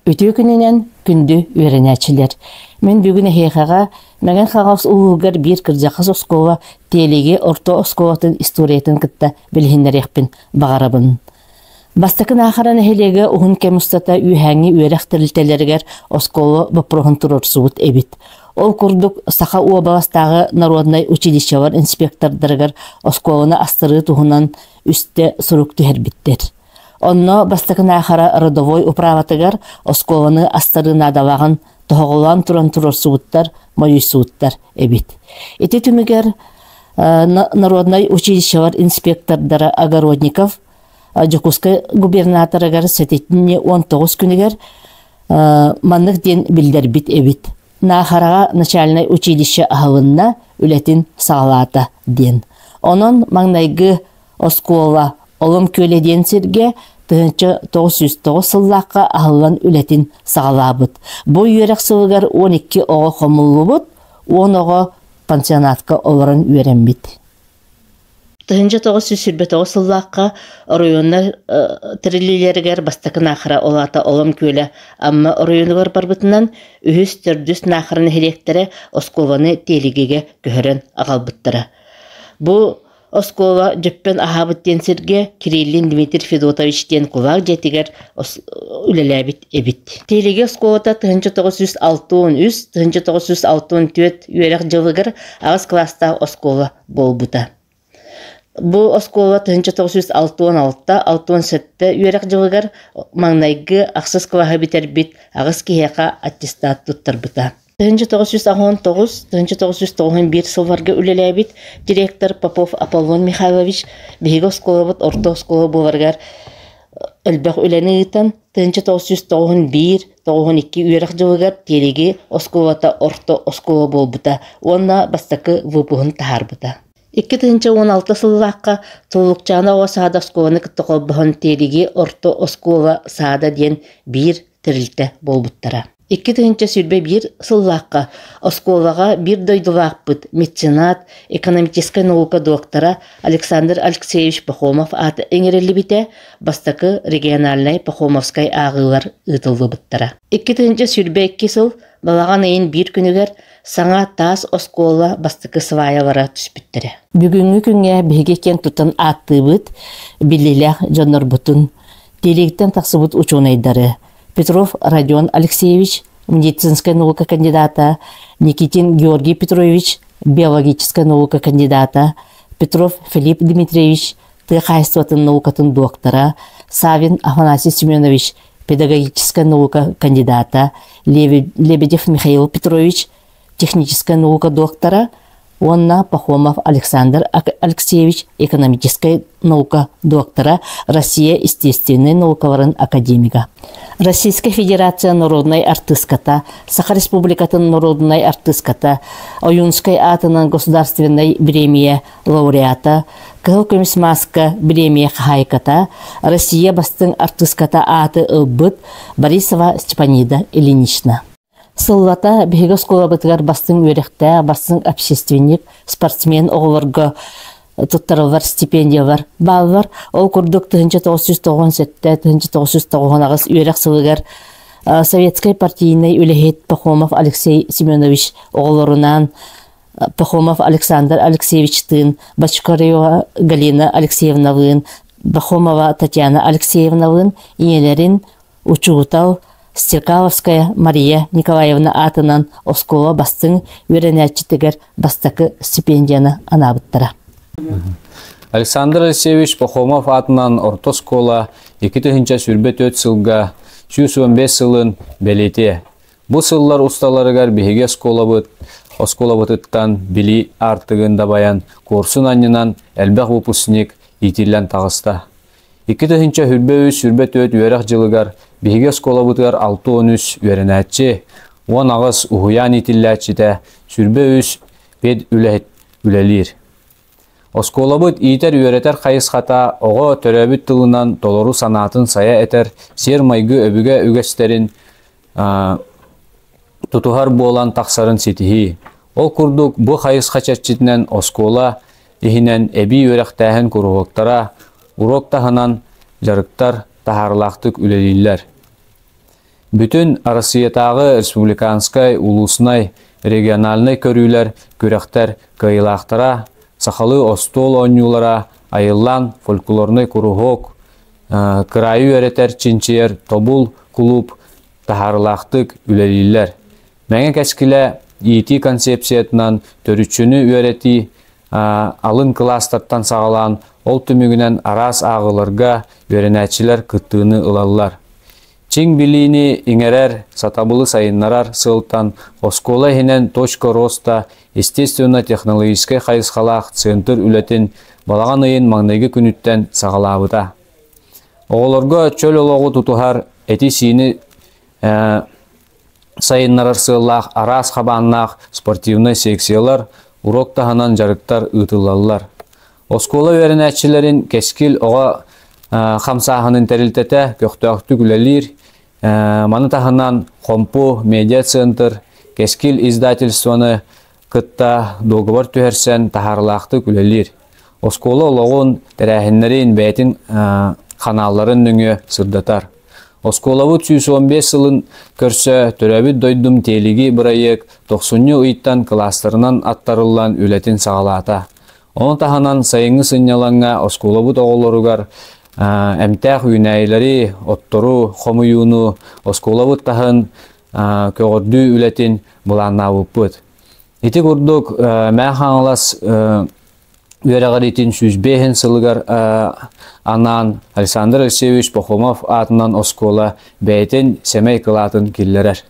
Үтүө күнүнэн күндү үөрэнээччилэр. Мен бүгүн эһиэхэҕэ Мәген Хаҕас ууһугар биир кырдьахас оскуола Тиэлиги орто оскуолатын историятын кытта билиһиннэриэхпин баҕарабын. Бастакы Наахара нэһилиэгэ уһун кэм устата үөһээҥҥи үөрэх тэрилтэлэригэр оскуола боппуруоһун туруорсубут эбит. Ол курдук, Саха уобаластааҕы народнай училищелар инспектордарыгар оскуоланы астарыы туһунан үстэ сурук түһэрбиттэр. Онно бастакы Наахара родовой управатыгар оскуоланы астарыы наадалааҕын тоһоҕолоон туран туруорсубуттар, мойуйсубуттар эбит. Ити түмүгэр народнай училищевар инспектордара Огородников Дьокуускай губернаторыгар сэтинньи 19 күнүгэр маннык диэн биллэрбит эбит. Наахараҕа начальнай училище аһылынна, үлэтин саҕалаата диэн. Онон маҥнайгы Оскуола Олом күөлэ диэн сиргэ тыһыынча тоҕус сүүс тоҕус сыллаахха аһыллан үлэтин саҕалаабыт. Бу үөрэх сылыгар он икки оҕо хомуллубут, он оҕо пансионатка олорон үөрэммит. Тыһыынча тоҕус сүүс сүүрбэтоҕус сыллаахха оройуоннар тэриллиилэригэр бастакы наахара ол аата Олом күөлэ Амма оройуонугар барбытынан үһүс төрдүс наахара нэһилиэктэрэ оскуоланы тиэлигигэ көһөрөн аҕалбыттара. Бу Оскуола дьөппөн аһаабыт диэн сиргэ Кириллин Дмитрий Федотович диэн кулаак дьиэтигэр үлэлээбит эбит. Тиһилиги оскуолата 1906-1964 үөрэх дьылыгар аҕыс кылаастаах оскуола буолбута. Бу оскуола 1906-1907 үөрэх дьылыгар маҥнайгы ахсыс кылаһы бүтэрбит аҕыс киһиэхэ аттестат туттарбыта. тыһыынча тоҕус сүүс аҕыан тоҕус тыһыынча тоҕус сүүс тоҕуһун биир сылларга үлэлээбит директор Попов Аполлон Михайлович биһиги оскуолабыт орто оскуола буоларыгар элбэх үлэни ыытан тыһыынча тоҕус сүүс тоҕуһун биир тоҕуһун икки үөрэх дьылыгар тиэлиги оскуолата орто оскуола буолбута уонна бастакы выпуһун таһаарбыта Икки тыһыынча уон алта сыллаахха Тулукчаана оҕо саада оскуоланы кытта холбоһон Тиэлиги орто оскуола саада диэн биир тэрилтэ буолбуттара. Икки тыһыынча сүүрбэ биир сыллаахха оскуолаҕа биир дойдулаахпыт, меценат, экономическай наука доктора Александр Алексеевич Пахомов ааты иҥэриллибитэ, бастакы региональнай Пахомовскай ааҕыылар ыытыллыбыттара. Икки тыһыынча сүүрбэ икки сыл балаҕан ыйын биир күнүгэр саҥа таас оскуола бастакы сваялара түспүттэрэ. Бүгүҥҥү күҥҥэ биһиги киэн тутан ааттыыбыт, биллиилээх дьоннорбутун, тиэлигиттэн тахсыбыт учуонайдары, Петров Родион Алексеевич, медицинскай наука кандидата, Никитин Георгий Петрович, биологическай наука кандидата, Петров Филипп Дмитриевич, тыа хаһаайыстыбатын наукатын доктора, Савин Афанасий Семенович, педагогическай наука кандидата, Лебедев Михаил Петрович, техническай наука доктора уонна Пахомов Александр Алексеевич экономическай наука доктора Россия естественнай наукаларын академига Российская Федерация народнай артыыската Саха Республикатын народнай артыыската Ойунскай аатынан государственнай биремия лауреата Кыһыл көмүс мааска биремия хаһаайката Россия бастыҥ артыыската ааты ылбыт Борисова Степанида Ильинична Сыллата биһиги оскуолабытыгар бастыҥ үөрэхтээх, бастыҥ общественник, спортсмен оҕолорго туттарыллар стипендиялар бааллар. Ол курдук тыһыынча тоҕус сүүс тоҕуон сэттэ, тыһыынча тоҕус сүүс тоҕуон аҕыс үөрэх сылыгар Советскай партийнай үлэһит Пахомов Алексей Семенович оҕолорунаан Пахомов Александр Алексеевичтыын, Бочкарева Галина Алексеевналыын, Пахомова Татьяна Алексеевналыын ийэлэрин учуутал Стекаловская Мария Николаевна аатынан оскуола бастыҥ үөрэнээччитигэр бастакы стипендияны анаабыттара. Александр Алексеевич Пахомов аатынан орто оскуола икки тыһыынча сүүрбэ төрт сылга сүүс уон бес сылын бэлиэтиэ. Бу сыллар усталарыгар биһиги оскуолабыт оскуолабытыттан билии артыгын дабайан курсун анньынан элбэх выпускник иитиллэн таҕыста. Икки тыһыынча сүүрбэ үс сүүрбэ түөрт үөрэх дьылыгар биһиги оскуолабытыгар алта уон үс үөрэнээччи, уон аҕыс уһуйаан иитиллээччитэ, сүүрбэ үс педүлэһит үлэлиир. Оскуолабыт иитэр-үөрэтэр хайысхата оҕо төрөөбүт тылынан толору санаатын сайа этэр сиэр-майгы өбүгэ үгэстэрин тутуһар буолан тахсарын ситиһии. Ол курдук бу хайысха чэрчитинэн оскуола иһинэн эбии үөрэхтээһин куруһуоктара, уруок таһынан дьарыктар таһаарылаахтык үлэлииллэр. Бүтүн Арассыыйатааҕы республиканскай, улууснай, региональнай көрүүлэр, күрэхтэр кыайыылаахтара, сахалыы остуол оонньуулара, айыллаан фольклорнай куруһуок, кыраайы үөрэтэр, чинчийэр тобул кулууп таһаарылаахтык үлэлииллэр. Мэҥэ кэскилэ иитии концепциятынан төрүччүнү үөрэтии алын кылаастартан саҕалаан ол түмүгүнэн араас ааҕыыларга үөрэнээччилэр кыттыыны ылаллар. Чиҥ билиини иҥэрэр, сатабылы сайыннарар сылтан оскуола иһинэн точка роста естественно-технологическай хайысхалаах центр үлэтин балаҕан ыйын маҥнайгы күнүттэн саҕалаабыта. Оҕолорго чөл олоҕу тутуһар эти-сиини сайыннарар сыаллаах араас хабааннаах спортивнай секциялар, урок таһынан дьарыктар ыытыллаллар. Оскуола үөрэнээччилэрин кэскил оҕо хамсааһынын тэрилтэтэ көхтөөхтүк үлэлиир. Маны таһынан Хомпу медиацентр, Кэскил издательствоны кытта дуогабар түһэрсэн таһаарылаахтык үлэлиир. Оскуола олоҕун, тэрээһиннэрин бэйэтин ханаалларын нөҥүө сырдатар. Оскуолабыт сүүс уон биэс сылын көрсө төрөөбүт дойдум тиэлиги бырайыак тохсунньу ыйтан кылаастарынан аттарыллан үлэтин саҕалаата. Ону таһынан сайыҥҥы сынньалаҥҥа оскуолабыт оҕолоругар эмтээх үүнээйилэри, оттору, хомуйууну, оскуолабыт таһын көҕөрдүү үлэтин былааннаабыппыт. Ити курдук Мәхаҥалас үөрэҕириитин сүүс биэһин сылыгар анаан Александр Алексеевич Пахомов аатынан оскуола бэйэтин сэмэй кылаатын киллэрэр.